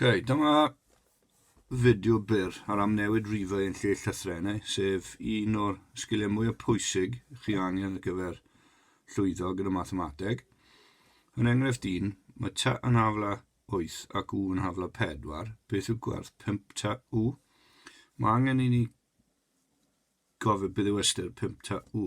okay, dyma fideo byr ar amnewid rifau yn lle llythrenau, sef un o'r sgiliau mwyaf pwysig chi angen ar gyfer llwyddo gyda mathemateg. Yn enghraifft un, mae ta yn hafla 8 ac u yn hafla 4. Beth yw gwerth 5 ta u? Mae angen i ni gofio beth yw ystyr 5 ta u.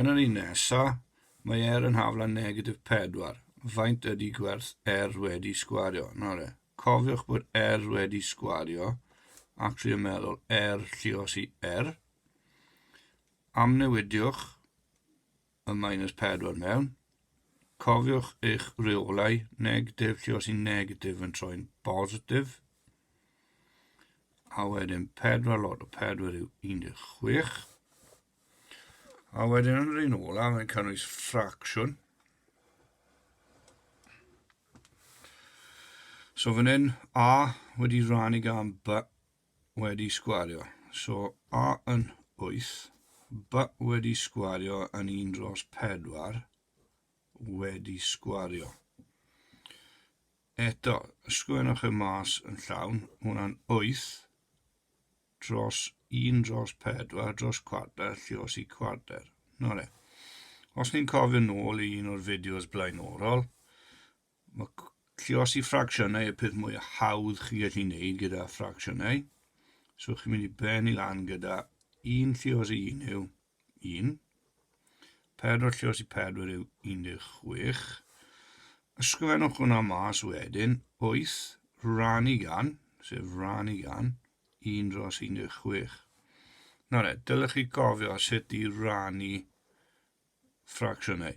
Yn yr un nesa, mae Air yn hafl â negatif 4. Faint ydy gwerth Air wedi sgwario? Nawr cofiwch bod Air wedi sgwario ac trio meddwl Air llios i Air. Amnewidiwch y minus 4 mewn. Cofiwch eich reolau negatif lle os i'n negatif yn troi'n bositif. A wedyn 4 lot o 4 yw 16. A wedyn yn yr un ola, mae'n cynnwys ffracsiwn. So fan hyn, A wedi rannu gan B wedi sgwario. So A yn 8, B wedi sgwario yn 1 dros 4 wedi sgwario. Eto, ysgrifennwch y mas yn llawn, hwnna'n 8 dros 1 dros 4 dros cwarter lle os i cwarter. Nore. Os ni'n cofio nôl i un o'r fideos blaenorol, Mae lluosi ffracsiynau y peth mwy hawdd chi'n gallu gwneud gyda ffracsiynau. So chi'n mynd i ben i lan gyda un llios i un yw 1. Pedwar llios i pedwar yw 16. Ysgrifennwch hwnna mas wedyn, 8 rannu gan, sef rannu gan, 1 dros 16. Nawr e, dylech chi gofio sut i rannu ffracsiynau.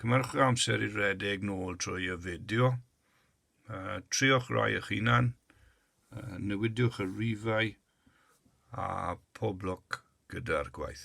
Cymhyrch amser i redeg nôl trwy y fideo. Uh, triwch rai eich hunan, uh, newidiwch y rifau a pob lwc gyda'r gwaith.